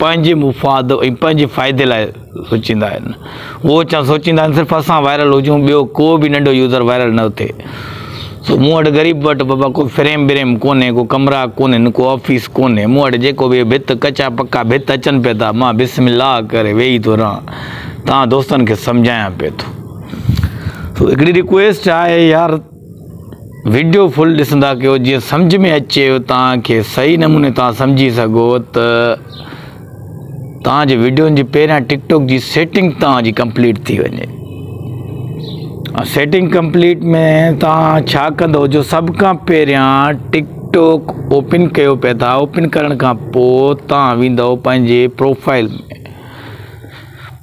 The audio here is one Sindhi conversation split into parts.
پنهنجي مفاد ۽ پنهنجي فائدي لاء سوچيندا آهن هو اچان سوچيندا آهن صرف اسان وائرل هجون ٻيو ڪو به ننڍو يوزر وائرل نه اٿي سو مون وٽ غريب وٽ بابا ڪو فريم بريم ڪونهي ڪو ڪمرا ڪونهن ڪو آفيس ڪونهي مون وٽ جيڪو به ڀت ڪچا پڪا ڀت اچن پئي ٿا مان بسم الله ڪري ويهي ٿو رهان تان دوستن کي سمجهايان پئي ٿو سو هڪڙي رڪويسٽ آهي يار وڊيو فل ڏسندا ڪيو جيئن سمجھ ۾ اچي توهان کي صحيح نموني توهان سمجھي سگھو ته توهان جي وڊيون جي پهريان ٽڪ ٽوڪ جي سيٽنگ توهان جي ڪمپليٽ ٿي وڃي سيٽنگ ڪمپليٽ ۾ توهان ڇا ڪندو جو سڀ کان پهريان ٽڪ ٽوڪ اوپن ڪيو پئي ٿا اوپن ڪرڻ کان پو توهان ويندو پنهنجي پروفائل ۾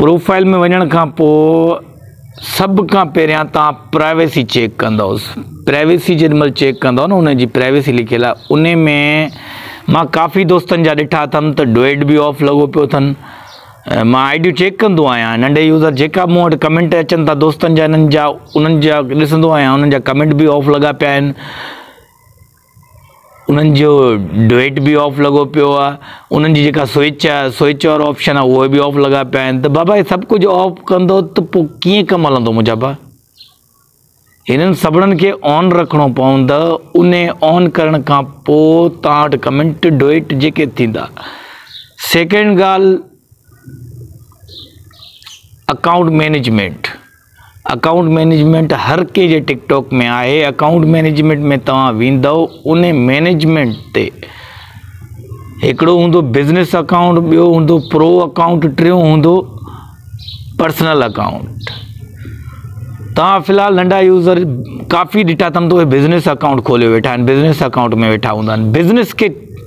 پروفائل ۾ وڃڻ کان پو سڀ کان پهريان تان پرائيويسي چيڪ ڪندو پرائيويسي جڏهن مل چيڪ ڪندو نه ان جي پرائيويسي لکيل آهي ان ۾ مان ڪافي دوستن جا ڏٺا اٿم ته ڊوئيڊ به آف لڳو پيو اٿن مان آئي ڊيون چيڪ ڪندو آهيان ننڍي يوزر جيڪا مون وٽ ڪمينٽ اچن ٿا دوستن جا انهن جا انهن جا ڏسندو آهيان انهن جا ڪمينٽ به آف لڳا پيا آهن انهن جو ڊوئيٽ به آف لڳو پيو آ انهن جي جيڪا سوئچ آ سوئچ وارو آپشن آ اهي به آف لڳا پيا آهن ته بابا هي سڀ ڪجهه آف ڪندو ته پو ڪيئن ڪم هلندو منهنجا با هنن سڀڙن کي آن رکڻو پوند ان آن ڪرڻ کان پو تان وٽ ڪمنٽ ڊوئيٽ جيڪي ٿيندا سيڪنڊ ڳالهه اڪائونٽ مينيجمينٽ اڪائونٽ مئنيجمينٽ هر ڪنهن جي ٽڪ ٽاڪ ۾ آهي اڪائونٽ مئنيجمينٽ ۾ توهان ويندؤ انهي مئنيجمينٽ تي هڪڙو هوندو بزنس اڪائونٽ ٻيو هوندو پرو اڪائونٽ ٽيون هوندو پرسنل اڪائونٽ توهان في الحال ننڍا يوزر ڪافي ڏٺا اٿم تو بزنس اڪائونٽ کوليو ويٺا آهن بزنس اڪائونٽ ۾ ويٺا هوندا آهن بزنس کي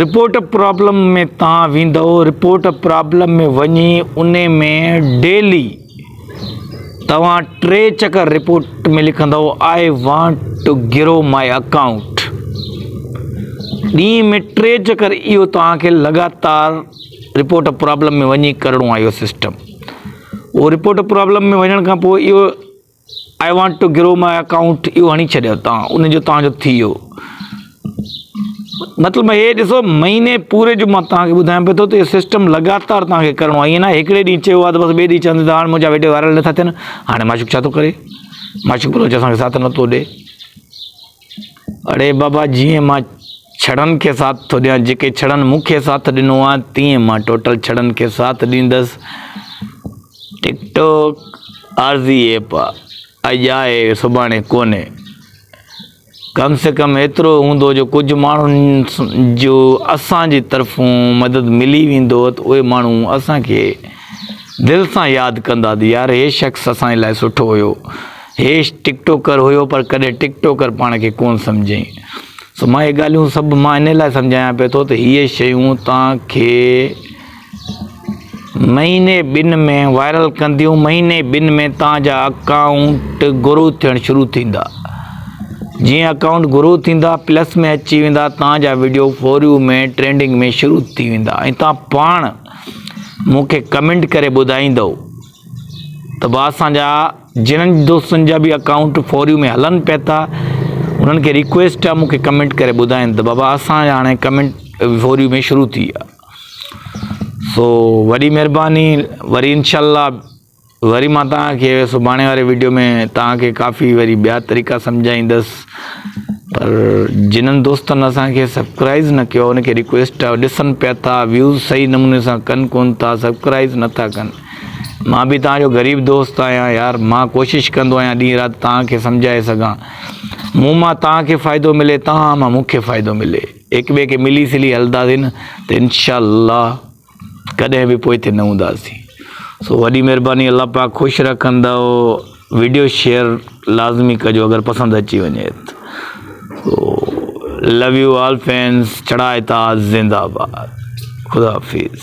رپورٽ پرابلم ۾ تان ويندئو رپورٽ پرابلم ۾ وڃي ان ۾ ڊيلي توهان ٽي چڪر رپورٽ ۾ لکندئو I want to grow my account ڏينهن ۾ ٽي چڪر اهو توهان کي لڳاتار رپورٽ پرابلم ۾ وڃي ڪرڻو آهي اهو سسٽم اهو رپورٽ پرابلم ۾ وڃڻ کان پوء اهو I want to grow my account اهو هڻي ڇڏيو توهان ان جو توهان جو ٿي ويو مطلب هي ڏسو مهيني پوري جو مان توهان کي ٻڌايان پيو ٿو ته اهو سسٽم لڳاتار توهان کي ڪرڻو آهي ائين ناهي هڪڙي ڏينهن چيو آهي ته بس ٻئي ڏينهن چوندي ته هاڻي منهنجا ويڊيو وائرل نٿا ٿين هاڻي معشوق ڇا ٿو ڪري معشوق روز اسان کي ساٿ نٿو ڏي اڙي بابا جيئن مان ڇڙن کي ساٿ ٿو ڏيان جيڪي ڇڙن مون کي ساٿ ڏنو آهي تيئن مان ٽوٽل ڇڙن کي ساٿ ڏيندس ٽڪ ٽوڪ عارضي ايپ اڄ آهي سڀاڻي ڪونهي ڪم سي ڪم ايترو هوندو جو ڪجهه ماڻهن جو اسان جي طرفون مدد ملي ويندو ته اهي ماڻهو اسان کي دل سان ياد ڪندا ته يار هي شخص اسان جي لاء سٺو هيو هيش ٽڪ ٽوڪر هيو پر ڪڏهن ٽڪ ٽوڪر پاڻ کي ڪونه سمجهيائين. سو مان اهي ڳالهيون سڀ مان انهي لاء سمجهايان پيو ٿو ته هيء شيون توهان کي مهيني ٻن ۾ وائرل ڪنديون، مهيني ٻن ۾ توهان جا اڪائونٽ گرو ٿيڻ شروع ٿيندا. جيئن اڪائونٽ گرو ٿيندا، پلس ۾ اچي ويندا، توهان جا وڊيو فوريو ۾ ٽرينڊنگ ۾ شروع ٿي ويندا ۽ توهان پاڻ مون کي ڪمينٽ ڪري ٻڌائيندؤ. ته به اسان جا جنھن دوستن جا به اڪائونٽ فوريو ۾ هلن پئي ٿا انھن کي ريڪويسٽ آ مون کي ڪمينٽ ڪري ٻڌائين ته بابا اسان جا هاڻي ڪمينٽ فوريو ۾ شروع ٿي ويا سو وڏي مهرباني وري انشاء الله وري مان تان کي سڀاڻي واري ويڊيو ۾ تان کي ڪافي وري ٻيا طريقا سمجھائيندس پر جنھن دوستن اسان کي سبسڪرائز نه ڪيو ان کي ريڪويسٽ آ ڏسن پئي ٿا ويوز صحيح نموني سان ڪن ڪون ٿا سبسڪرائز نه ٿا ڪن مان به توهان جو غريب دوست آهيان يار، مان ڪوشش ڪندو آهيان ڏينهن رات توهان کي سمجهائي سگهان، مون مان توهان کي فائدو ملي توهان مان مون کي فائدو ملي، هڪ ٻئي کي ملي سلي هلنداسين ته انشاء الله ڪڏهن به پوئتي نه هونداسين. سو وڏي مهرباني الله پاڪ خوش رکندو ويڊيو شيئر لازمي ڪجو اگر پسند اچي وڃي ته so love you all fans چڙائتا زنده آباد خدا حافظ.